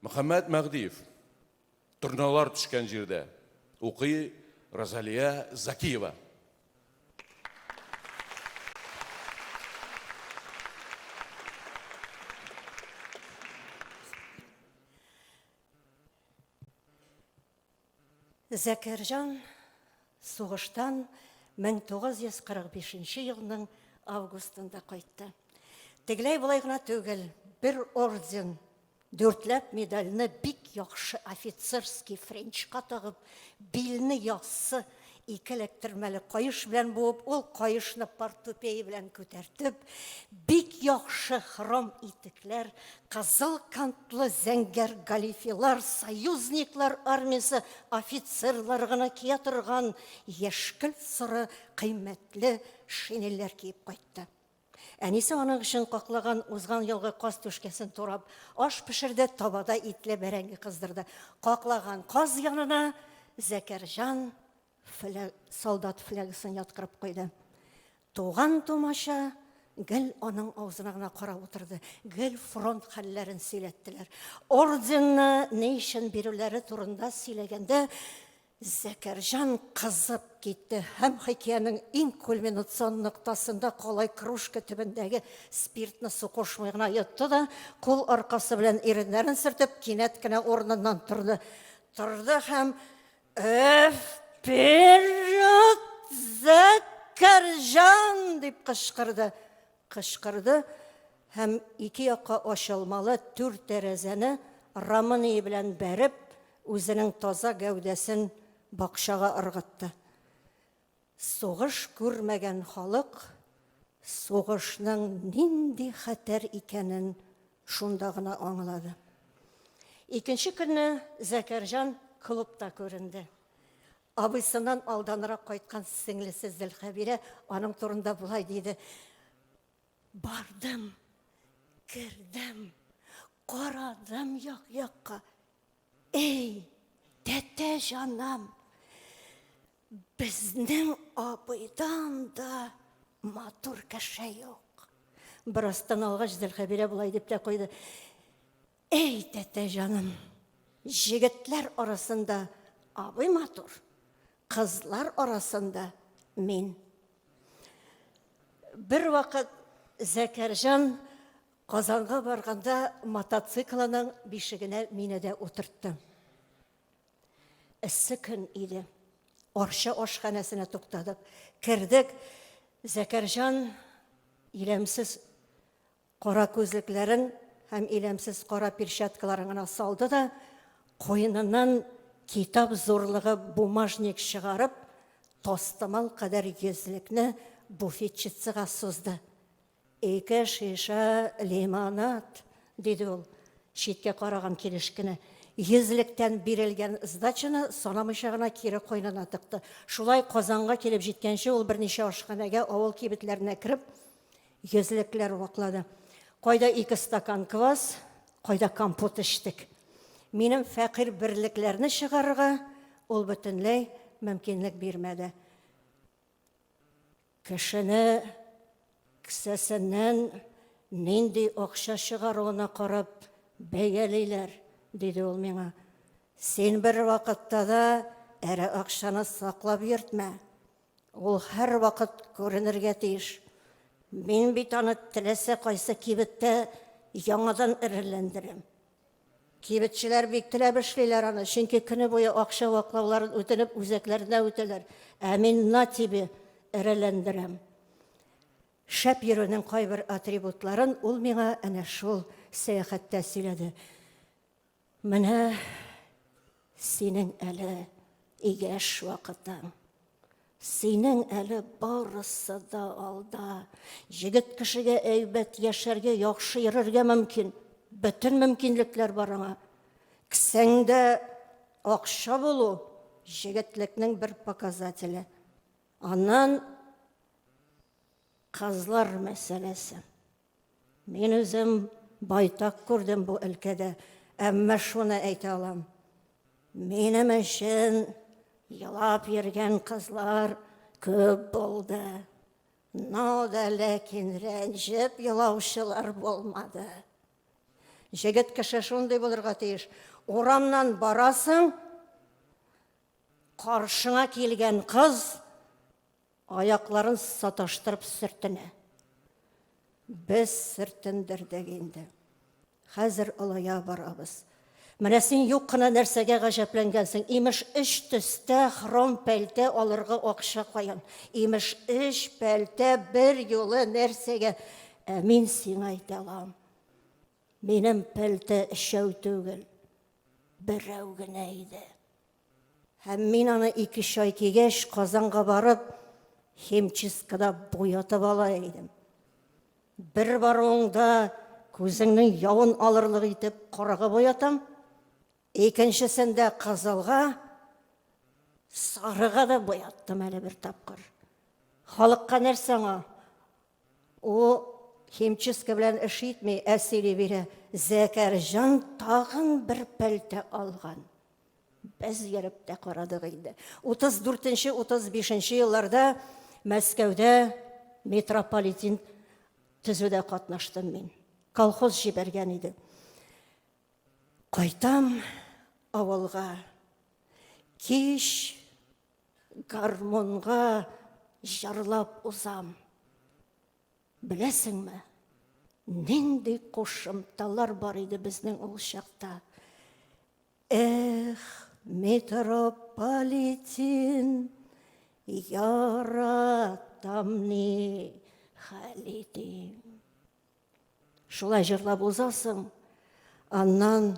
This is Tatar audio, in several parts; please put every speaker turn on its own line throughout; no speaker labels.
Мөхәммәт Мәгъдиев торналар төшкән җирдә укый Розалия Закиева.
Закирҗан сугыштан 1945 елның августында кайтты. Тегеләй болай гына түгел, бер орден, дүртләп медальны бик яхшы офицерский френчка тагып, билне яссы Ике эләктермәле каеш белән буып, ул каешны портупея белән күтәртеп, бик яхшы хром итекләр, кызыл кантлы зәңгәр галифилар, союзниклар армиясе офицерлары гына кия торган яшькелт-соры кыйммәтле шинельләр киеп кайтты. Әнисе аның өчен каклаган узган елгы каз түшкәсен турап, аш пешерде, табада итле бәрәңге кыздырды. Каклаган каз янына Зәкәрҗан флаг, солдат флягысын яткырып куйды. Туган тумача гел аның авызына гына карап утырды. Гел фронт хәлләрен сөйләттеләр. Орденны ни өчен бирүләре турында сөйләгәндә, Зәкәрҗан кызып китте һәм хикәянең иң кульминацион ноктасында калай кружка төбендәге спиртны су кушмый гына йотты да, кул аркасы белән иреннәрен сөртеп, кинәт кенә урыныннан торды. Торды һәм «Вперед, Зәкәрҗан!» дип кычкырды. Кычкырды һәм ике якка ачылмалы түр тәрәзәне рамынии белән бәреп, үзенең таза гәүдәсен бакчага ыргытты. Сугыш күрмәгән халык сугышның нинди хәтәр икәнен шунда гына аңлады. Икенче көнне Зәкәрҗан клубта күренде. Абыйсыннан алданрак кайткан сеңлесе Зелхәбирә аның турында болай диде. Бардым, кердем, карадым як-якка. Эй, тәтә җанам, безнең абыйдан да матур кеше юк. Бераздан алгач, Зелхәбирә болай дип тә куйды. Әй, тәтә җаным, җегетләр арасында абый матур, кызлар арасында мин. Бер вакыт Зәкәрҗан Казанга барганда мотоциклының бишегенә мине дә утыртты. Эссе көн иде. Арча ашханәсенә туктадык. Кердек. Зәкәрҗан иләмсез Кара күзлекләрен һәм иләмсез кара перчаткаларын гына салды да, куеныннан китап зурлыгы бумажник чыгарып, тастымал кадәр йөзлекне буфетчицага сузды. Ике шиша лимонад, диде ул, читкә караган килеш кенә. Йөзлектән бирелгән сдачаны санамыйча гына кире куенына тыкты. Шулай Казанга килеп җиткәнче ул берничә ашханәгә, авыл кибетләренә кереп, Йөзлекләр ваклады. Кайда ике стакан квас, кайда компот эчтек. Минем фәкыйрь берлекләрне чыгарырга ул бөтенләй мөмкинлек бирмәде. Кешене кесәсеннән нинди акча чыгаруына карап бәялиләр, диде ул миңа. Син бер вакытта да эре акчаны саклап йөртмә. Ул һәрвакыт күренергә тиеш. Мин бит аны теләсә кайсы кибеттә яңадан эрелләндерәм. Кибетчеләр бик теләп эшлиләр аны, чөнки көне буе акча ваклауларын үтенеп үзәкләренә үтәләр. Ә мин на тебе эрелләндерәм. Шәп йөрүнең кайбер атрибутларын ул миңа әнә шул сәяхәттә сөйләде. Менә синең әле игәш вакытың. Синең әле барысы да алда. Җегет кешегә әйбәт яшәргә, яхшы йөрергә мөмкин. Бөтен мөмкинлекләр бар аңа. Кесәңдә акча булу җегетлекнең бер показателе. Аннан кызлар мәсьәләсе. Мин үзем байтак күрдем бу өлкәдә, әмма шуны әйтә алам. Минем өчен елап йөргән кызлар күп булды. Но да ләкин рәнҗеп елаучылар булмады. Җегет кеше шундый булырга тиеш. Урамнан барасың, каршыңа килгән кыз Аякларын саташтырып сөртенә. Без сөртендердек инде. Хәзер олая барабыз. Менә син юк кына нәрсәгә гаҗәпләнгәнсең. Имеш, өч төстә хром пәлтә алырга акча каян. Имеш, өч пәлтә бер юлы нәрсәгә. Ә мин сиңа әйтә алам. Минем пәлтә өчәү түгел, берәү генә иде. Һәм мин аны ике чай кигәч, Казанга барып, химчисткада буятып ала идем. Бер баруыңда күзеңнең явын алырлык итеп карага буятам, икенчесендә кызылга, сарыга да буяттым әле бер тапкыр. Халыкка нәрсә аңа? Ул химчистка белән эш итми, ә сөйли бирә. Зәкәрҗан тагын бер пәлтә алган. Без йөреп тә карадык инде. 34-35 елларда Мәскәүдә метрополитен төзүдә катнаштым мин. Колхоз җибәргән иде. Кайтам авылга. Кич гармунга җырлап узам. Беләсеңме, нинди кушымталар бар иде безнең ул чакта. Эх, метрополитен, яратам ни хәл итим. Шулай җырлап узасың, аннан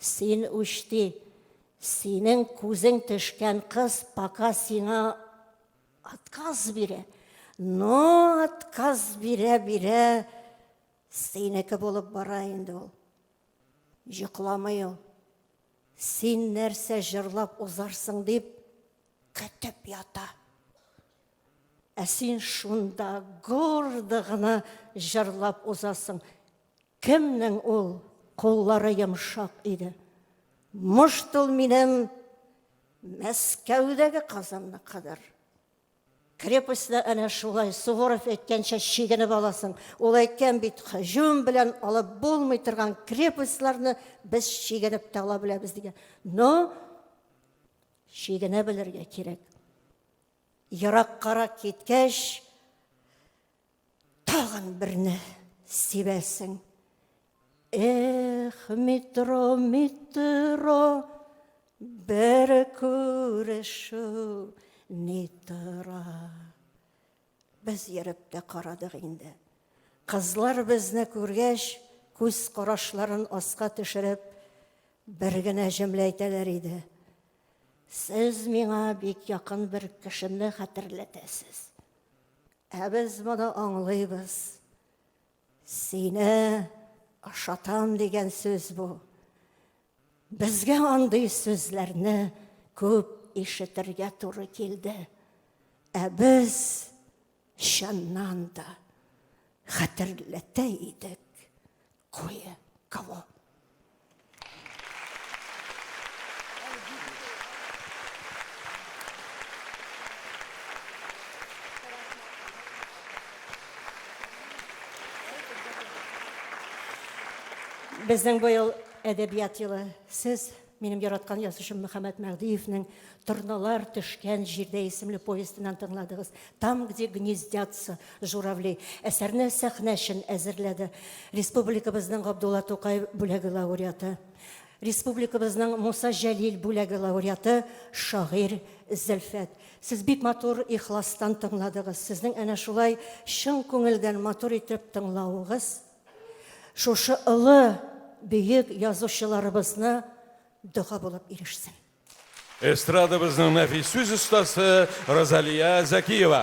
Син үчти, синең күзең төшкән кыз пока сиңа отказ бирә. Но отказ бирә бирә синеке булып бара инде ул. Йокламый ул. Син нәрсә җырлап узарсың дип көтеп ята. Ә син шунда гордо гына җырлап узасың. Кемнең ул куллары йомшак иде? Мошт ул минем Мәскәүдәге Казанныкыдыр. Крепостьда әнә шулай Суворов әйткәнчә чигенеп аласың. Ул әйткән бит, һөҗүм белән алып булмый торган крепостьларны без чигенеп тә ала беләбез дигән. Но чигенә белергә кирәк. Ераккарак киткәч, Тагын берне сибәсең. Эх, метро, метро, бер күрешү ни тора. Без йөреп тә карадык инде. Кызлар безне күргәч, күз карашларын аска төшереп, бер генә җөмлә әйтәләр иде. Сез миңа бик якын бер кешемне хәтерләтәсез. Ә без моны аңлыйбыз. Сине ашатам дигән сүз бу. Безгә андый сүзләрне күп ишетергә туры килде. Ә без чыннан да хәтерләтә идек кое кого. Безнең быел әдәбият елы. Сез, минем яраткан язучым Мөхәммәт Мәһдиевнең Торналар төшкән җирдә исемле повестеннан тыңладыгыз. Там, где гнездятся журавли. Әсәрне сәхнә өчен әзерләде. Республикабызның Габдулла Тукай бүләге лауреаты. Республикабызның Муса Җәлил бүләге лауреаты шагыйрь Зөлфәт. Сез бик матур ихластан тыңладыгыз. Сезнең әнә шулай чын күңелдән матур итеп тыңлавыгыз шушы олы бөек язучыларыбызны дога булып ирешсен.
Эстрадабызның нәфис сүз
остасы
Розалия Зәкиева.